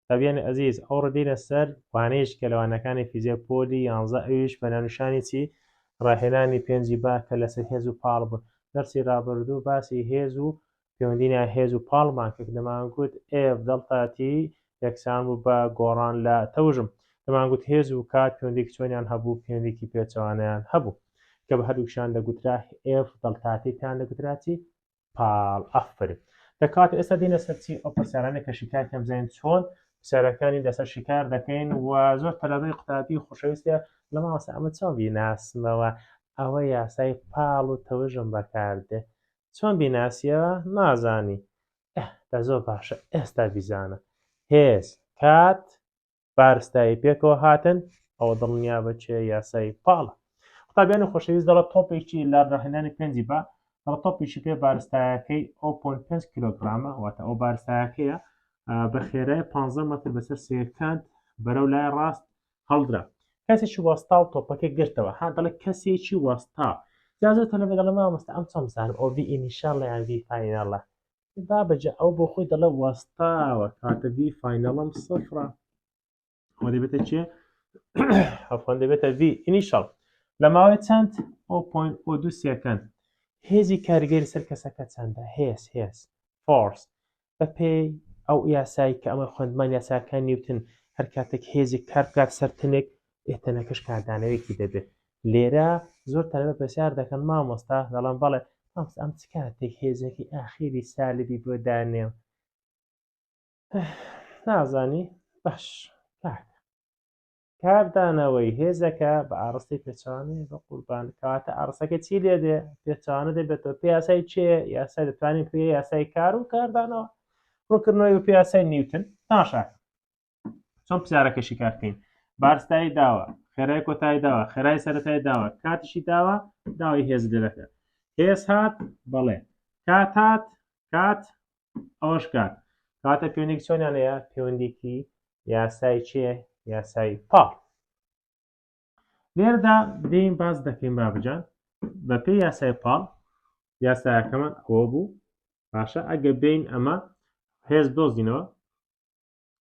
قوتابیانی ئەزیز ئەوڕۆ دێینە سەر وانەیەکی کە لە وانەکانی فیزیای پۆلی یانزە ئەویش بە ناونیشانی چی ڕاهێنانی پێنجی با کە لەسەر هێز و پاڵ بوون دەرسی ڕابردوو باسی هێز و پەیوەندی نێوان هێز و پاڵمان کرد دەمانگوت ئێف دەڵتا تی یەکسان بوو بە گۆڕان لە تەوژم دەمانگوت هێز و کات پەیوەندێکی چۆنیان هەبوو پەیوەندێکی پێچەوانەیان هەبوو کە بە هەردووکیشیان دەگوترا ئێف دەڵتا تی پێیان دەگوترا چی پاڵ ئەفرین دەکات ئێستا دینە سەرچی ئەو پرسیارانە کە شیکار کەم زین چۆن پرسیارەکانی لەسەر شیکار دەکەین و زۆر تەلادەی قوتابی خۆشەویستە لە ماوەسە ئەمە چۆن بیناسمەوە ئەوە یاسای پاڵ و تەوژم بەکاردێ چۆن بیناسیەوە نازانی دە زۆر باشە ئێستا بیزانە هێز کات بارستایی پێکەوە هاتن ئەوە دڵنیا بە چێ یاسایی پاڵە قوتابیانی خۆشەویست دەڵە تۆپێکی لە ڕاهێنانی پێنجی بە دەڵە تۆپێکی پێ بارستایەکەی ئەو پۆن پێ کیلوگرامە واتە ئەو بارستایەکەیە بە خێرای 15 مەتر بەسەر سێکانت بەرەو لای ڕاست هەڵدرا کەسێکی وەستا و تۆپەکە گرتەوە ها دەڵە کەسێکی وەستا جازە تەلەبێ دەڵە مامۆستا ئەم چەم بزانم ئەو ڤی ئینیشاڵ یان ڤی فایناڵە بابە جا ئەو بۆ خۆی دەڵێ وەستاوە کاتە ڤی فاینەڵم سفرە ئەوە دەبێتە چێ ئەفۆن دەبێتە ڤی ئینیشەڵ لە ماوەی چەند ئۆ پۆین ئۆ دوو سێکەند هێزی کارگەری سەر کەسەکە چەندە هێز هێز فۆرس بە پێی ئەو یاسایی کە ئەمە خوێندمان یاساکان نیوتن هەر کاتێک هێزی کار بکات سەر تنێک ئێ تەنەکەش کاردانەوەیەکی دەبێت لێرە زۆر تەلبە پرسیار دەکەن مامۆستا دەڵام بەڵێ مامۆستا ئەم چ کاتێک هێزێکی ئاخیری سالبی بۆ دانێم نازانی باش کاک کاردانەوەی هێزەکە بە ئاڕستی پێچوانێ بە قوربان کاتە ئارسەکە چی لێ دێ پێچوانە دەبێتەوە پێ یاسای چێ یاسای دەتوانین پێ یاسای کار و کاردانەوە ڕووکردنەوەی و پێیاسای نیوتن ناشاکە چۆن پرسیارەکە شیکار بکەین بارستایی داوە خێرای کۆتایی داوە خێرای سەرەتای داوە کاتیشی داوە داوای هێز لێرەکە هێز هات بەڵێ کات هات کات ئەوەش کات کاتە پێوەندێک چۆنیان هەیە پەیوەندێکی یاسای چێ یاسای پا لێردا دێین باز دەکەین بابجان بە پێ یاسای پاڵ یاسایەکەمان ئەوە بوو باشە ئەگە بین ئەمە هێز دۆزینەوە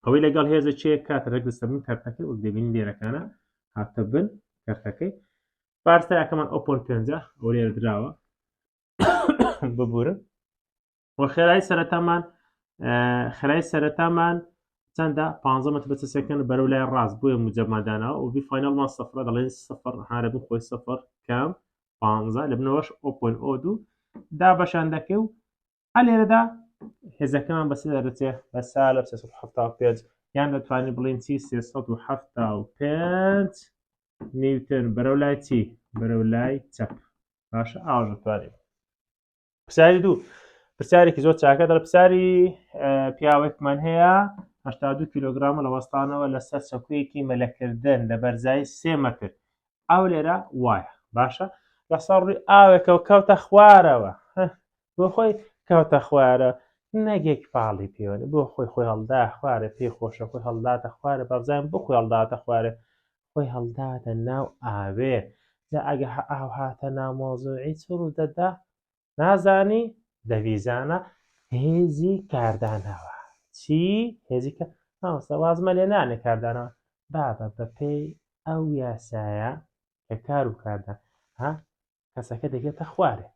ئەوەی لەگەڵ هێزە چێ کاتە ڕێک لەسەر من کارتەکەی وەک دەبینی لێرەکانە هاتە بن کارتەکەی پارتەکەمان ئۆپۆن پێنجە ئەو لێرە دراوە ببورن و خێرای سەرەتامان خێرای سەرەتامان چەندە پ مەتر بە سەکەن بەرەو لای ڕاست بۆیە مجەمادانەوە و فینەڵمان سفر دەڵێن سفر هارە بن خۆی سفر کەم پ لە بنەوەش ئۆپۆن ئۆ دوو دا بەشان دەکەی و هەر لێرەدا هێزەکەمان بەسێ دەرچێ بە سا لە 1970 یان دەتوانین بڵین چی 1970 نیوتن بەرەو لای چی بەرەو لای چەپ باش ئاژ دەتوانین پرسیاری دوو پرسیارێکی زۆر چاکە دەڵ پرسیاری پیاوێکمان هەیە هشتا دو کیلوگرام لە وەستانەوە لەسەر سەکویەکی مەلەکردن لە بەرزایی سێ مەتر ئەو لێرە وایە باشە لەسەر ڕووی ئاوێکەوە کەوتە خوارەوە بۆ خۆی کەوتە خوارە نەگێک پاڵی پێوەێ بۆ خۆی خۆی هەڵدا خوارە پێی خۆشە خۆی هەڵداتە خوارە بەزان بۆ خۆی هەڵداتە خوارە خۆی هەڵداتە ناو ئاوێ لە ئەگە ئاو هاتە نامۆزۆی چ ڕوو دەدا نازانی دەویزانە هێزی کاردانەوە چی هێزی کە هاوسە وازمە لێ نانێ کاردانەوە بابە بەپێی ئەو یاسایە کە کار و کاردان ها کەسەکە دەگێتە خوارێ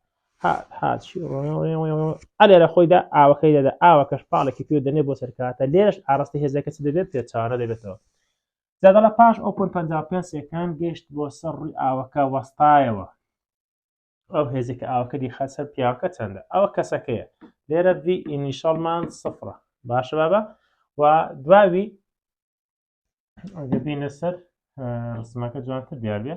ئەلێ لە خۆیدا ئاوەکەی دەدا ئاوە کەش پاڵێکی پێ دەنێ بۆ سەرکاتە لێرش ئاراستی هێزەکە چ دەبێت پێچوانە دەبێتەوە زیادەڵە پاش ئەو پل 55 سەکان گەشت بۆ سەر ڕووی ئاوەکە وەستایەوە ئەو هێزێک ئاوەکە دی خەسەر پیاوەکە چەندە ئەوە کەسەکەیە لێرە دی ئینیشەڵمان سفرە باشە بابە و دواوی دەبینە سەر ڕسمەکە جوانتر دیارێ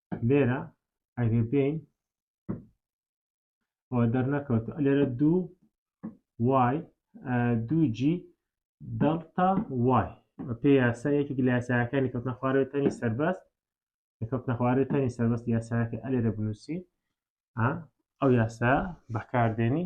لێرە ئەگەر بێین ئەو دەرنەکەوت لێرە دوو وای دوو جی دەڵتا وای پێ یاسا یەکێک لە یاساکانی کەوتنە خوارەوە تەنی سەربەست کەوتنە خوارەوە تەنی سەربەست یاساکە ئەلێرە بنووسی ئەو یاسا بەکاردێنی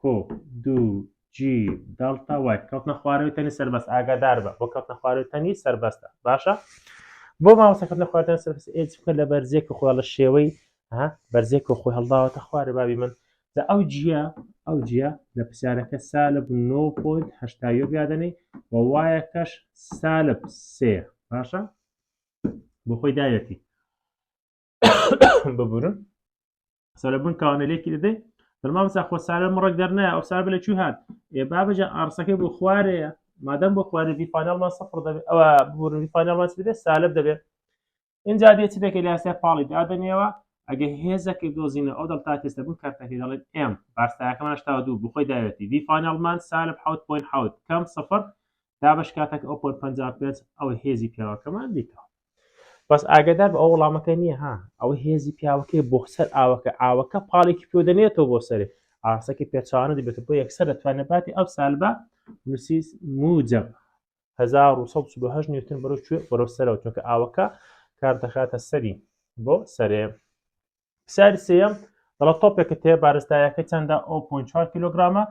کۆ دوو جی دەڵتا وای کەوتنە خوارەوەی تەنی سەربەست ئاگادار بە بۆ کەوتنە خوارەوەی تەنی سەربەستە باشە بۆ ماوەسەکەتنە خوارەوە سەربەست ئێج بکە لە بەرزێک و خۆڵە شێوەی ها بەرزێک و خۆی هەڵداوەتە خوارە بابی من لە ئەو جیە ئەو جیە لە پرسیارەکە سالب 9.8 یادەنی و وایەکەش سالب سێ باشە بۆ خۆی داوێتی ببورن سەرە بن کاونەلێکی دەدەی دەما بسا خۆ سارە مڕک دەرنایە ئەو سار بە لە چی هات ئێ بابەجە ئارسەکەی بۆ خوارەیە مادەم بۆ خوارە دیفانەڵما سەفر دەبێت ئەوە ببورن دیفانەڵما دەبێت سالب دەبێت اینجا دێت دەکە لاسای پاڵی دادنێەوە ئەگە هێزەکەی دۆزینە ئەو دڵ تا تێستە بوو کارتەکەی دەڵێت ئێم بارساکەمان شتا دوو بخۆی داوێتی دیفانەڵمان سالب حوت پوین حوت کەم سفر دابش کاتەک ئەو پۆر پەنجا پێت ئەوە هێزی پیاوەکەمان دیکەوە بەس ئاگدار بە ئەو وڵامەکە نییە ها ئەوە هێزی پیاوەکەی بۆ سەر ئاوەکە ئاوەکە پاڵێکی پێ دەنێتەوە بۆ سەرێ ئاسەکە پێچوانە دەبێت بۆ یەکسەر دەتوانێت باتی ئەو سالبە نووسیس موجب 1970 نیوتن بەرەو کوێ بەرەو سەرەوە چونکە ئاوەکە کار دەخاتە سەری بۆ سەرێ پرسیاری سێیەم دەڵە تۆپێکت هەیە بارستایەکە چەندە ئەو 4 کیلوگرامە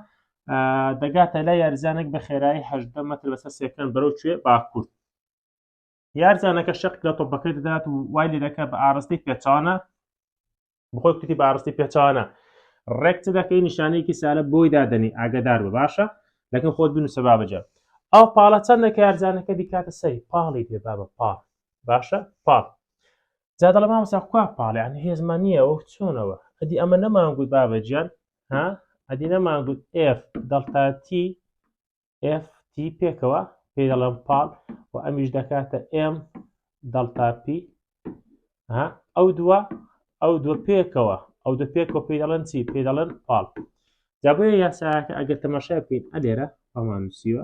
دەگاتە لای یارزانێک بە خێرایی هەدە مەتر بەسەر سێکەن بەرەو کوێ باکوور یارزانەکە شق لە تۆپەکەی دەدات و وای لێ دەکە بە ئارستی پێچانە بخۆی کوتی بە ئارستی پێچانە ڕێک چ دەکەی نیشانەیەکی سالە بۆی دادنی ئاگدار بە باشە لەکە خۆت بن سەبا بجە ئەو پاڵە چەندە کارزانەکە دیکاتە سەری پاڵی بێ بابە پاڵ باشە پاڵ جا دەڵێ مامۆستا کوا پاڵ یان هێزمان نییە ئەو چۆنەوە ئەدی ئەمە نەمان گوت بابە گیان ها ئەدی نەمان گوت ئف دڵتاتی FT پێکەوە پێ دەڵێم پاڵ و ئەمیش دەکاتە ئێم دڵتاپی ئەو دووە ئەو دوو پێکەوە ئەو دە پێکەوە پێ دەڵێن چی پێ دەڵێن پاڵ جابێ یاساکە ئەگەر تەماشای بکەین ئەلێرە ئەمان نووسیوە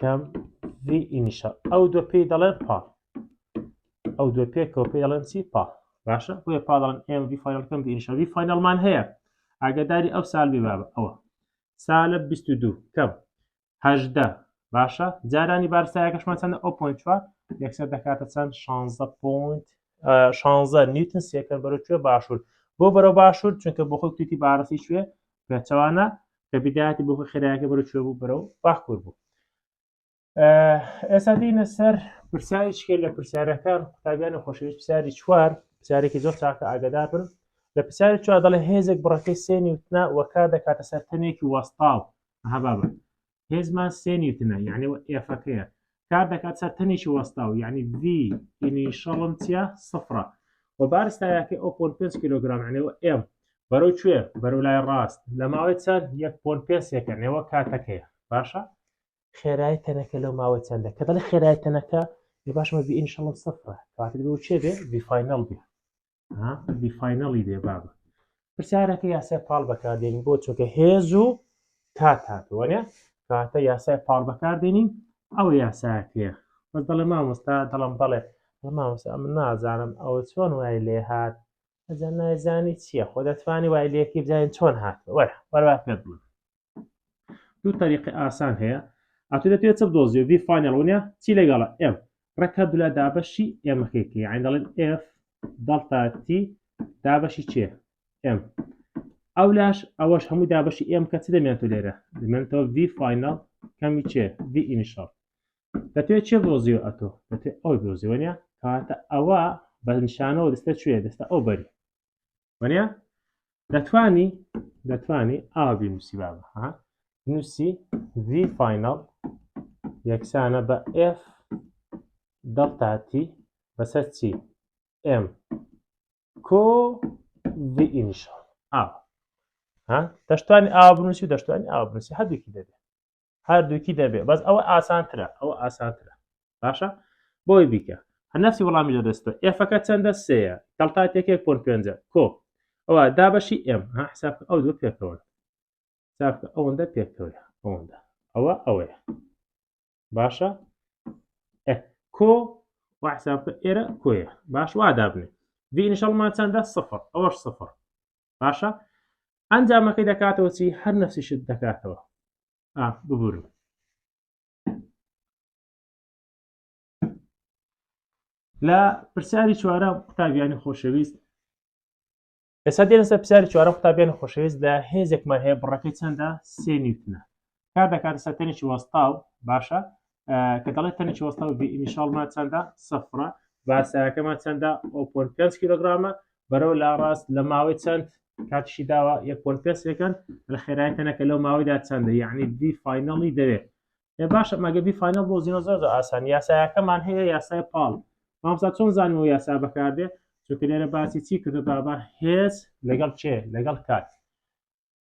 کەم ڤی ئینیشە ئەو دوو پێی دەڵێن پا ئەو دوو پێکەوە پێ دەڵێن چی پا باشە بۆیە پا دەڵێن ئێم ڤی فاینەڵ کەم ڤی ئینیشە ڤی فاینەڵمان هەیە ئاگەداری ئەو سال بێ بابە ئەوە سالە 22 کەم هەدە باشە جارانی بارسایەکەشمان چەندە ئەو پوین چوار یەکسەر دەکاتە چەند 16 پوینت 16 نیوتن سێکەر بەرەوێ باشوور بۆ بەرەو باشوور چونکە بۆ خۆی توتی بارسی شوێ پێچەوانە کە بیداتی بۆ خێراکە بەرە چێ بوو بەرەو باکوور بوو ئێستا دینە سەر پرسیارێکێ لە پرسیارەکان قوتابیانی خۆشەویست پرسیاری چوار پرسیارێکی زۆر چاکە ئاگدار بن لە پرسیاری چوار دەڵێ هێزێک بڕەکەی سێنی وتنا وەکا دەکاتە سەر تەنێکی وەستاو هەبابە هێزمان سێ نیوتنە یعنی ئێفەکەیە کار دەکات سەر تەنێکی وەستاو یعنی ڤی ئینیشەڵم چیە سفرە و بارستایەکە ئەو پۆن پێنج کیلوگرام عنەوە ئێم بەرەو کوێ بەرەو لای ڕاست لە ماوەی چەند یەک پۆن پێنجێکە نێوە کاتەکەیە باشە خێرای تەنەکە لەو ماوەی چەندە کە دەڵی خێرای تەنەکە باشمە ڤی ئینیشەڵم سفرە کاتێک بۆ چێ بێ ڤی فینەڵ بێ بی فینەڵی دێ بابە پرسیارەکە یاسای پاڵ بەکاردێنین بۆ چۆکە هێز و تا تاتوەێ کاتە یاسای پاڵ بەکاردێنین ئەو یاساکەیە بە دەڵێ مامۆستا دەڵم بەڵێ مامۆستا من نازانم ئەو چۆن وای لێ هاات ئەجا نایزانی چییە خۆ دەتوانانی وای لێکی بزانین چۆن هات وەرە وەروا پێ بڵێ دوو تەریقی ئاسان هەیە ئەتو دەتوێت چ بدۆزیە ڤی فاینەڵ ونە چی لەگەڵە ئێف ڕێکە دولا دابەشی ئێمەکێکی عین دەڵێن ئێف دەڵتا تی دابەشی چێ ئێم ئەو لاش ئەوەش هەموو دابەشی ئێم کە چ دەمێنێتەوە لێرە دەمێنێتەوە ڤی فاینەڵ کەمی چێ ڤی ئینیشەڵ دەتوێت چێ بۆزیو ئەتۆ دەتوێت ئەو دۆزیوەە کاتە ئەوە بە نیشانەوە دەستە کوێ دەستە ئەو بەری وەنیا دەتوانی دەتوانی ئاوی نووسی بابە ها نووسی ڤی فینەڵ یەکسانە بە ئف دەڵتاتی بەسەر چی ئم کۆ ڤی ئینیشۆ ئاو ها دەشتوانی ئاو بنووسی و دەشتوانی ئاو بنووسی هەردووکی دەبێت هەردووکی دەبێ بەس ئەوە ئاسانترە ئەوە ئاسانترە باشە بۆی بیکە هە نفسی وەڵامی لە دەستە ئێفەکە چەندە سەیە دڵتا تێکێک پۆن پێنج کۆ ئەوە دابەشی ئێم ها حساب ئەو دوو پێکەوە ساکە ئەوەندە پێکەوە ئەوەندە ئەوە ئەوەیە باشە کۆ وحساب ئێرە کۆیە باش وا دابنێ ڤینشەڵمان چەندە سفر ئەوەش سفر باشە ئەنجامەکەی دەکاتەوە چی هەر نەفسیشت دەکاتەوە ببورم لە پرسیاری چوارە قوتابیانی خۆشەویست ئێستا دێنسە پرسیاری چوارە قوتابیانی خۆشەویست لە هێزێکمان هەیە بڕەکەی چەندە سێ نیوتنە کار دەکاتە سەر تەنێکی وەستاو باشە کە دەڵێ تەنێکی وەستاو ئینیشاڵمان چەندە سەفرە باسایەکەمان چەندە ئۆپۆن پێ کیلوگرامە بەرەو لا ڕاست لە ماوەی چەند کاتشی داوە یەکۆن پێسەکەن لە خێراەکەنەکە لەو ماوەیدا چەندە یعنی دی فینەڵی دەوێت ێ باشە مەگە دی فینەڵ بۆ زیۆ زۆر ئاسان یاسایەکەمان هەیە یاسای پاڵ مامسا چۆن زانانی و یاسا بەکاردێ چونکە لێرە باسی چی کردو بابا هێز لەگەڵ چێ لەگەڵ کات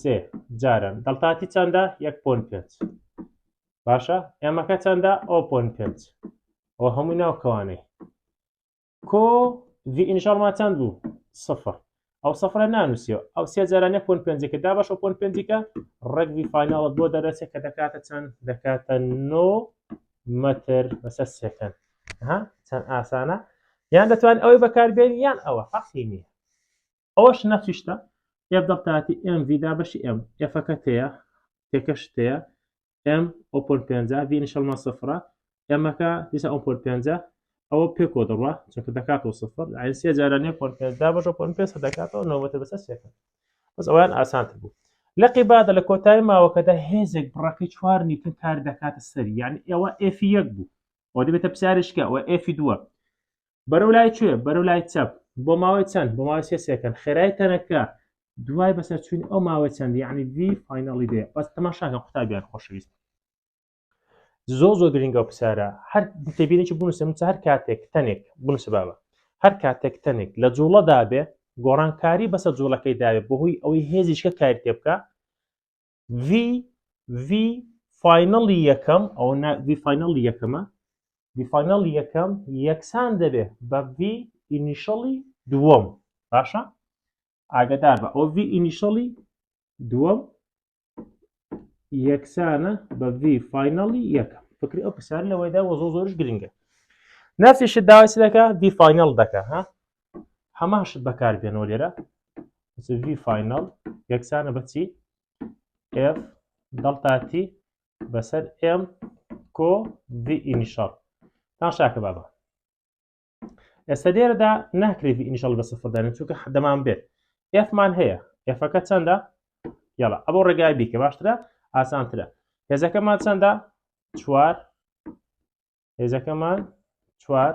سێ جاران دڵتاتی چەندە یەک پۆن پێنج باشە ئێمەکە چەندە ئەو پۆن پێنج ئەو هەمووی ناوکەوانەی کۆ ئینشاڵما چەند بوو سفر ئەو سفرە نانووسیەوە ئەو سێ جارانە پۆن پێنجەکە دا بەش پۆن پێنجەکە ڕگوی فیناڵت بۆ دەرەچێت کە دەکاتە چەند دەکاتە نۆ مەتر بەسەر سێکەن ها چەند ئاسانە یان دەتوان ئەوەی بەکاربێن یان ئەوە فەقی نییە ئەوەش نەخشی شتە ئێف دەڵتاتی ئێم ڤی دا بەشی ئێم ئێفەکە تێیە تێکەش تێیە ئێم ئۆپۆن پێنجا ڤی نیشەڵمە سفرە ئێمەکە دیسە ئەو پۆل پێنجە ئەوە پێکۆ دەڕوا چونکە دەکاتەوە سفر ئاینسیە جارانیە پۆل پێنجدا بەشە پۆل پێ دەکاتەوە نەوەتە بەسەر سێکە بەس ئەویان ئاسانتر بوو لە قیبادە لە کۆتای ماوەکەدا هێزێک بڕەکەی چوار نیوتن کار دەکاتە سەر یعنی ئێوە ئێفی یەک بوو ئەو دەبێتە پسیارشکە ئەوە ئێفی دووە بەرەو لای چێ بەرەو لای چەپ بۆ ماوەی چەند بۆ ماوەی سێ سێکەن خێرای تەنەکە دوای بەسەر چوین ئەو ماوەی چەند یعنی وی فیناڵی دێ بەس تەماشاکە قوتابیان خۆشەویست زۆ زۆ گرنگە و پسارە هەر تێبینێکی بنووسم هەر کاتێک تەنێک بنووسە بابە هەر کاتێک تەنێک لە جوڵەدا بێ گۆڕانکاری بەسەر جوڵەکەی داوێت بەهۆی ئەوەی هێزیشکە کاری تێ بکە ڤی ڤی فاینەڵی یەکەم ئەو ڤی فاینەڵی یەکەمە ڤی فاینەڵی یەکەم یەکسان دەبێ بە ڤی ئینیشەڵی دووەم باشە ئاگدار بە ئەو ڤی ئینیشەڵی دووەم یەکسانە بە ڤی فاینەڵی یەکەم فکری ئەو پرسیار لەوەیدا وە زۆ زۆرش گرنگە نفسیش داوای دەکە ڤی فاینەڵ دەکە ها هەمان شت بەکار بێنەوە لێرە ڤی فینەڵ یەکسانە بەچی ئف دڵتاتی بەسەر ئم کۆ ڤی ئینیشەڵ تان شاکە بابە ئێستا لێرەدا ناکرێت ئینیشەڵ بە سفردانێت چونکە حدەمان بێت ئفمان هەیە ئفەکە چەندە یاڵە ئەبۆ ڕێگای بیکە باشترە ئاسانترە هێزەکەمان چەندە چوار هێزەکەمان چوار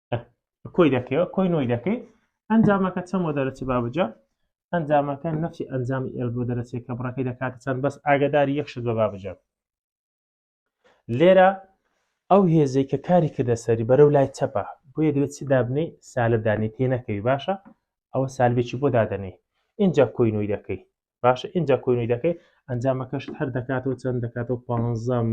کۆی دەکەوە کۆی نۆی دەکەی ئەنجامەکە چەند بۆ دەرەچی بابجا ئەنجامەکە نەفی ئەنجامی ئێل بۆ دەرەچێت کە بڕەکەی دەکاتە چەند بەس ئاگداری یەکشت بە بابجا لێرە ئەو هێزەی کە کاری کردە سەری بەرەو لای چەپە بۆ یەدرێت چی دابنەی سالبدانی تێ نەکەوی باشە ئەوە سالبێکی بۆ دادەنێ اینجا کۆینۆی دەکەی باشە ئینجا کۆنی دەکەی ئەنجامەکەشت هەر دەکاتەوە چەند دەکاتەوە پ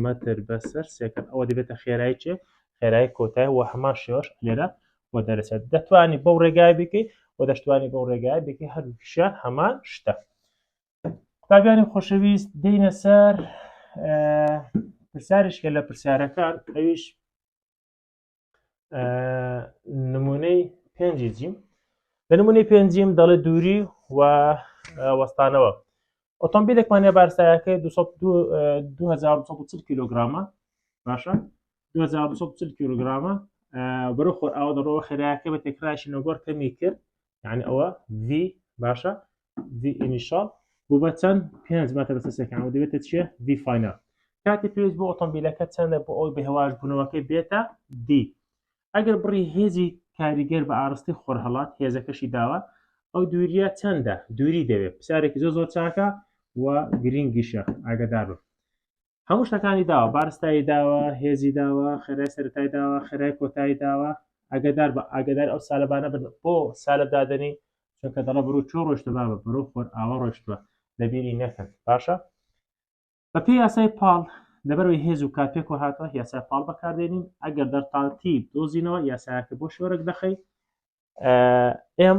مەتر بەسەر سێکرد ئەوە دەبێتە خێرای چێ خێرای کۆتای و هەمان شێوەش لێرە و دەرەچێت دەتوانانی بەو ڕێگای بکەی و دەشتوانی بەو ڕێگای بکە هەردووکیشیان هەمان شتە قوتابیانی خۆشەویست دینە سەر پرسیارشکە لە پرسیارەکان ئەویش نمونەی پێنجی جیم لە نمونەی پێنجیم دەڵێ دووری و وەستانەوە ئۆتۆمبیلێکمانە بارسایەکە 2040 کیلوگرامە باشە 2040 کیلوگرامە بەرە خۆر ئاو دەڕەوە خێراکە بە تێکراشی نەگۆر کەمی کرد یعنی ئەوە V باشە ڤی ئینیشاڵ بۆ بە چەند پێنج مەتە بە سەسەکان و دەبێتە چیە ڤی فاینەل کاتی پێویست بۆ ئۆتۆمبیلەکە چەندە بۆ ئەوی بەهواش بوونەوەکەی بێتە دی ئەگەر بڕی هێزی کاریگەر بە ئارستی خۆر هەڵات هێزەکەشی داوە ئەو دووریە چەندە دووری دەوێت پرسیارێکی زۆر زۆر چاکە و گرنگیشە ئاگدار بم هەموو شتەکانی داوە بارستایی داوە هێزی داوە خێرای سەرای داوە خێرای کۆتایی داوە ئەگەدار بە ئاگدار ئەو سالەبانە بن بۆ سالب دادنی چونکە دەڵە بروو چۆ ڕۆشتە بابە بەرو خۆر ئاوە ڕۆشتوە لەبیری نەکەن باشە بەپی یاسای پاڵ لەبەرەوەی هێز و کات پێکەوە هاتوە یاسای پاڵ بەکاردێنین ئەگەر دەرتانتی دۆزینەوە یاسایەکە بۆ شۆرەک دەخەی ئێم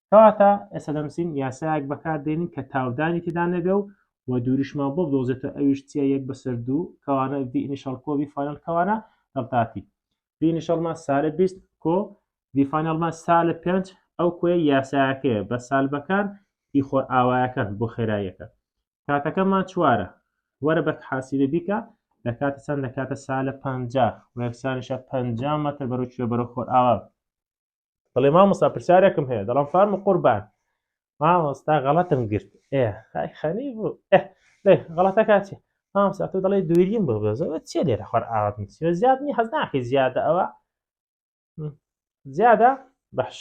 کەواتە ئێستا دەنووسین یاسایەک بەکاردێنین کە تاودانی تێدا نەبێ و و دووریشمان بۆ بدۆزێتەوە ئەویش چیە یەک بەسەر دوو کەوانە ڤی ئینیشەڵ کۆ ڤی فاینەڵ کەوانە دەڵتاتی ڤی ئینیشەڵمان سالە بیست کۆ ڤی فاینەڵمان سالە پێنج ئەو کۆیە یاسایەکەیە بە سالبەکان ئی خۆرئاوایەکان بۆ خێراییەکە کاتەکەمان چوارە وەرە بە حاسیبە بیکە لە کاتە چەند لە کاتە سالە پەنجا وەکسانیشە پەنجا مەتر بەرەو کوێ بەرەو خۆرئاوا بڵێ مامۆستا پرسیارێکم هەیە دەڵام فارم و قوربان مامۆستا غەڵەتم گرت ئێ خای خەنی بوو ئێ لێ غەڵەتە کاچێ مامۆستا تۆ دەڵێ دووریم بۆ بەزەوە چێ لێرە خۆر ئاوات نووسیوە زیاد نی حەز ناکەی زیادە ئەوە زیادە بەش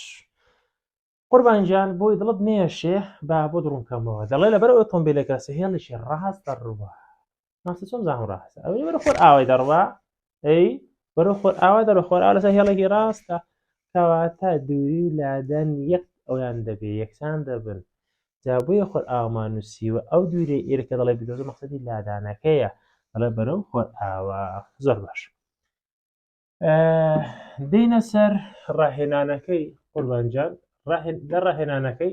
قوربان گیان بۆی دڵت نێشێ با بۆ دڕونکەمەوە دەڵێ لەبەر ئۆتۆمبیلەکە سهێڵیشی ڕاستە ڕوە ماستە چۆن زاهۆ ڕاستە ئەوەی وەرە خۆر ئاوای دەڕوا ئەی وەرە خۆر ئاوا دەڕە خۆر ئاوا لەسەر هێڵێکی ڕاستە کەواتە دووری و لادەن یەک ئەویان دەبێ یەکسان دەبن جابووە خۆر ئامان نووسیوە ئەو دوورێ ئێرەکە دەڵێ بدۆزە مەخصدی لادانەکەیە دەڵێ بەرەو خۆر ئاوا زۆر باش دینە سەر ڕاهێنانەکەی قوربانجان لە ڕاهێنانەکەی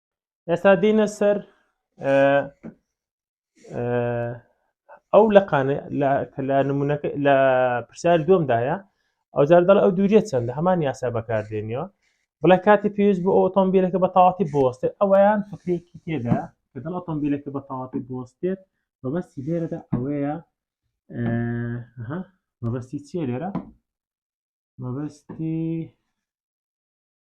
ئێستا دینە سەر ئەو لەقانە لە نمونونەکە لە پرسیار دومدایە ئەو جار دەڵ ئەو دووریە چەند لە هەمان یاسا بەکاردێنەوە بڵێ کاتی پێویست بۆ ئۆتۆمبیلەکە بە تەواتی بۆستێ ئەویان فکرێکی تێدا کە دڵ ئۆتۆمبیلەکە بە تەواتی بۆستێت بەبەستی لێرەدا ئەوەیە مەبەستی چیە لێرە مەبەستی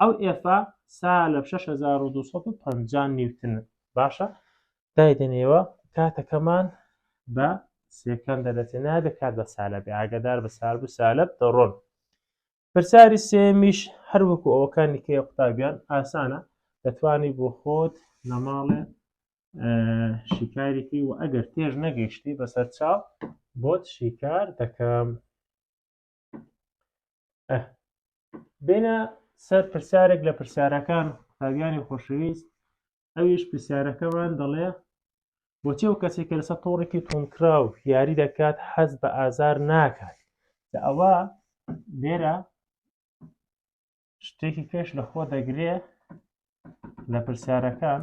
ئەو ئێفا سالب شەش هەزار و دوو سەد و پەنجا نیوتن باشە دایدەنێوە کاتەکەمان بە سێکەم دەدەچێ نابێت کات بە سالبێ ئاگدار بە سال بوو سالب دەڕۆن پرسیاری سێمیش هەروەکو ئەوەکانی کێ قوتابیان ئاسانە دەتوانی بۆ خۆت لە ماڵێ شیکارێکی و ئەگەر تێژ نەگەیشتی بەسەر چاو بۆت شیکار دەکەم بێنە سەر پرسیارێک لە پرسیارەکان قوتابیانی خۆشەویست ئەویش پرسیارەکەمان دەڵێ بۆچێ و کەسێک کە لەسەر تۆڕێکی تونکراو یاری دەکات حەز بە ئازار ناکات لە ئەوە لێرە شتێکی پێش لەخۆ دەگرێ لە پرسیارەکان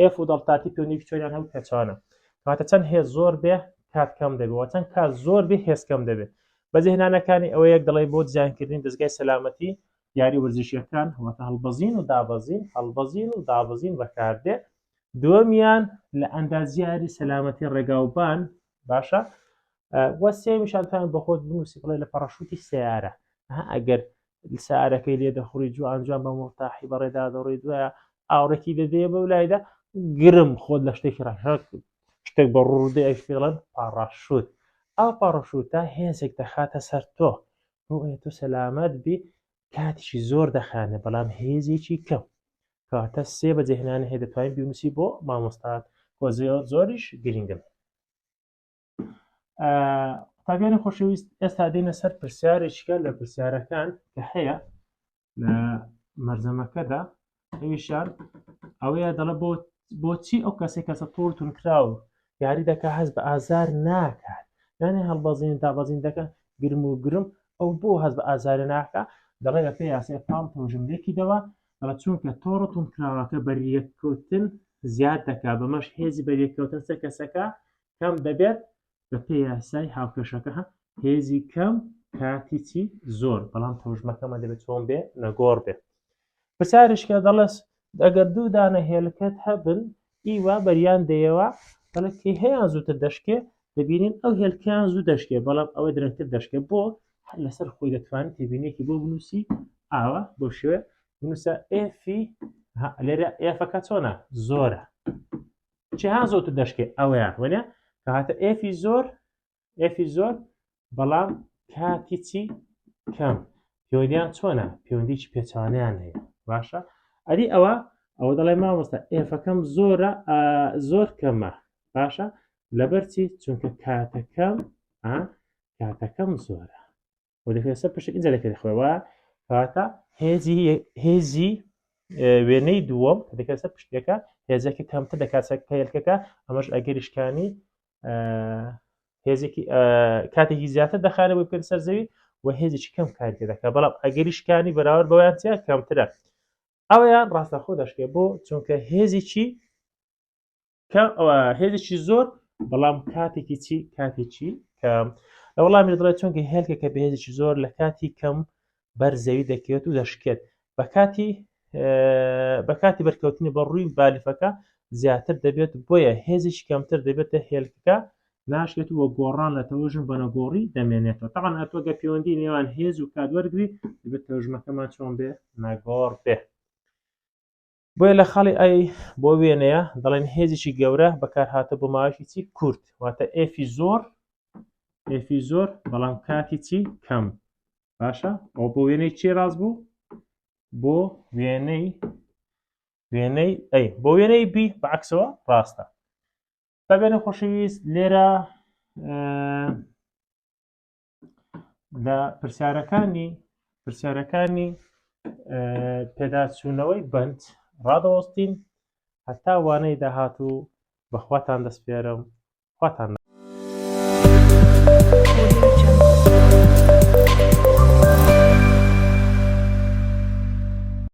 ئێف و دەڵتاتی پێوەندیکی چۆنیان هەبوو پێچەوانە کاتە چەند هێز زۆر بێ کات کەم دەبێەوە چەند کات زۆر بێ هێز کەم دەبێت بەجێهێنانەکانی ئەوە یەک دەڵی بۆ دیزانکردنی دەستگای سەلامەتی یاری وەرزشیەکان واتە هەڵبەزین و دابەزین هەڵبەزین و دابەزین بەکاردێ دووەمیان لە ئەندازیاری سەلامەتی ڕێگاوبان باشە وە سێمیشانتان بەخۆت بنووسی بڵێ لە پەڕەشوتی سیارە ئەگەر سارەکەی لێ دەخوڕی جوان جوان بە مڵتاحی بەڕێدا دەڕی دوایە ئاوڕێکی دەدەیە بەو لایدا گرم خۆت لە شتێکی ڕەشەک شتێک بە ڕوودە ئەش پێڵەن پاڕاشوت ئا پاڕشوتە هێزێک دەخاتە سەر تۆ بۆ تۆ سەلامەت بی کاتیشی زۆر دەخانێ بەڵام هێزێکی کەم کاتە سێ بەجێ هێنانە هەیە دەتوانین بیونسی بۆ مامۆستات وە زۆر زۆریش گرنگن قوتابیانی خۆشەویست ئێستا دێنە سەر پرسیارێکە لە پرسیارەکان کە هەیە لە مەرزەمەکەدا ئەویشان ئەوەیە دەڵە بۆ بۆچی ئەو کەسێک کەسە تۆڵ تونکراو یاری دەکە هەست بە ئازار ناکات یانێ هەڵبەزین دابەزین دەکە گرم و گرم ئەو بۆ هەز بە ئازارە ناکە دەڵێ لە پێ یاسێ پاڵ تۆژملێکی دەوە دەڵە چونکە تۆڕ تونکراوەکە بەریەککەوتن زیاد دەکا بەمەش هێزی بەریەککەوتن سەر کەسەکە کەم دەبێت بە پێ یاسای هاوکێشەکە هە هێزی کەم کاتی چی زۆر بەڵام تەوژمەکەمە دەبێت چۆن بێ نەگۆڕ بێت پرسیارشکە دەڵێس ئەگەر دوو دانە هێلکەت هەبن ئیوا بەریان دەیەوە بەڵە کەی هەیان زووتر دەشکێ دەبینین ئەو هێلکیان زوو دەشکێ بەڵام ئەوە درەنگتر دەشکێ بۆ هەر لەسەر خۆی دەتوانێت تێبینێکی بۆ بنووسی ئاوە بۆ شوێ بنووسە ئێفی لێرە ئێفەکە چۆنە زۆرە چه ها زۆت دەشکێ ئەوەیان وەنە کە هاتە ئفی زۆر ئفی زۆر بەڵام کاتی چی کەم پێوەدیان چۆنە پەیوەندیی پێچوانیان هەیە باشە ئەری ئەوە ئەوە دەڵێ مامۆستا ئێفەکەم زۆرە زۆر کەمە باشە لەبەرچی چونکە کاتەکەم کاتەکەم زۆرە و دەکرێت سەر پشت ئینجا دەکرێت خوێوە کاتە هێزی هێزی وێنەی دووەم کە دەکرێت سەر پشتەکە هێزەکە کەمتر دەکات سەر پێلکەکە ئەمەش ئەگەریشکانی هێزێکی کاتێکی زیاتر دەخانە بۆ پێ سەر زەوی و هێزێکی کەم کاری دەکات بەڵام ئەگەریشکانی بەراورد بەوەیانتیا کەمترە ئەویان ڕاستەخۆ دەشکێ بۆ چونکە هێزێکی هێزێکی زۆر بەڵام کاتێکی چی کاتێکی کە لە وەڵامی دڵێت چونکە هێلکە کە بەهێزێکی زۆر لە کاتی کەم بەر زەوی دەکەوێت و دەشکێت بە کاتی بە کاتی بەرکەوتنی بە ڕووی بالیفەکە زیاتر دەبێت بۆیە هێزیش کەمتر دەبێتە هێلکەکە ناشێت وە گۆڕان لە تەوژم بە نەگۆڕی دەمێنێتەوە تاوان ئەتۆگە پەیوەندی نێوان هێز و کات وەرگری دەبێت تەژمەکەمان چۆن بێ نەگۆڕ بێ بۆیە لە خاڵی ئای بۆ وێنەیە دەڵێن هێزیی گەورە بەکارهاتە بۆ ماوەیەکی چی کورت واتە ئێفی زۆر ئێفی زۆر بەڵام کاتی چی کەم باشە ئەو بۆ وێنەی چی ڕاست بوو بۆ وێنەی وێنەی ئەی بۆ وێنەی بی بەعکسەوە ڕاستە بەبێنە خۆشەویست لێرە لە پرسیارەکانی پرسیارەکانی پێداچوونەوەی بند ڕادەوەستین هەتا وانەی داهات و بەخواتان دەستپێرم خواتان